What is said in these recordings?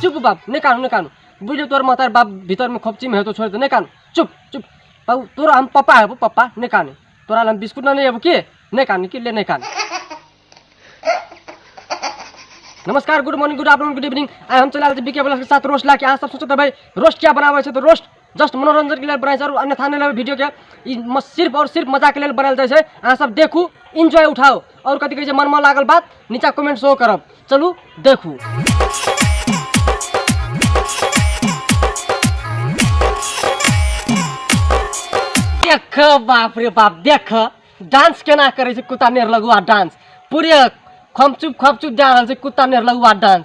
चुप बाप नहीं कानू नहीं कानू बुझे तोर मातार बाप भीतर में खोपची में है तो छोड़ दे नहीं कानू चुप चुप बाबू तोरा हम पापा है पापा नहीं कानू तोरा हम बिस्कुट ना नहीं है के नहीं कानू के ले नहीं कानू नमस्कार good morning good afternoon good evening आइ हम चलि आयल छी बीके ब्लॉग के साथ रोस्ट लाके अहाँ सब सोचत हेबै रोस्ट क्या बनाबै छै तऽ रोस्ट जस्ट मनोरञ्जनके लेल बनाइ छै आओर अन्यथा नहि लेबै वीडियोके ई मस सिर्फ आओर सिर्फ मजाके लेल बनायल जाइ छै अहाँ सब देखू इन्जॉय उठाउ आओर कथी कहै छै मनमे लागल बात नीचा कमेंट सेहो करब चलू देखू देख बाप रे बाप देख डांस केना करै छै कुत्ता नेर लगुआ डांस पूरे खमचुप खमचुप जा रहल छै कुत्ता नेर लगुआ डांस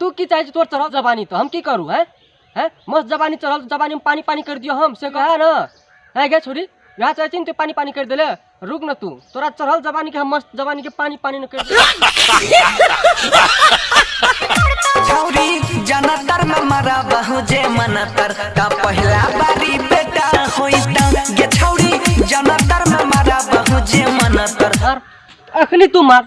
तू की चाहै छी तोर चढ़ल जवानी तऽ हम की करू हैं हैं मस्त जवानी चढ़ल जवानी में पानी पानी कर दियो हम से कहे ना है गे छोरी यहाँ चाहै छी ने तू पानी पानी कर देले रुक ना तू तोरा चढ़ल जवानी के हम मस्त जवानी के पानी पानी न कर छौरी जनतर में मरा बहु जे मनतर का पहिला बारी बेटा होई त गे छौरी जनतर में मरा बहु जे मनतर मार अखनी तू मार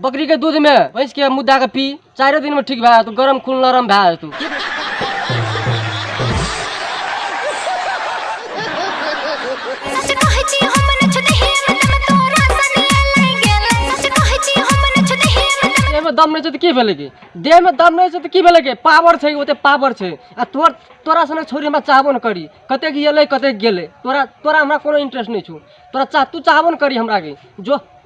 बकरी के दूध में भैंस के मुद्दा के पी चारो दिन में ठीक भए जेतौ गरम खून नरम भए जेतौ सच कहै छी हम न छुनहि मतलब तोरा सनिया लइ गेल सच कहै छी हम न छुनहि मतलब देह में दम नहीं छै तऽ की भेलै की देह में दम नहीं छै तऽ की भेलै की पावर छै ओते पावर छै आ तोर तोरा सने छोड़ी हमरा चाहबो न करी कते गेलै कते गेलै तोरा तोरा हमरा कोनो इंटरेस्ट नहीं छौ तोरा चाह तू चाहबो न करी हमरा के जो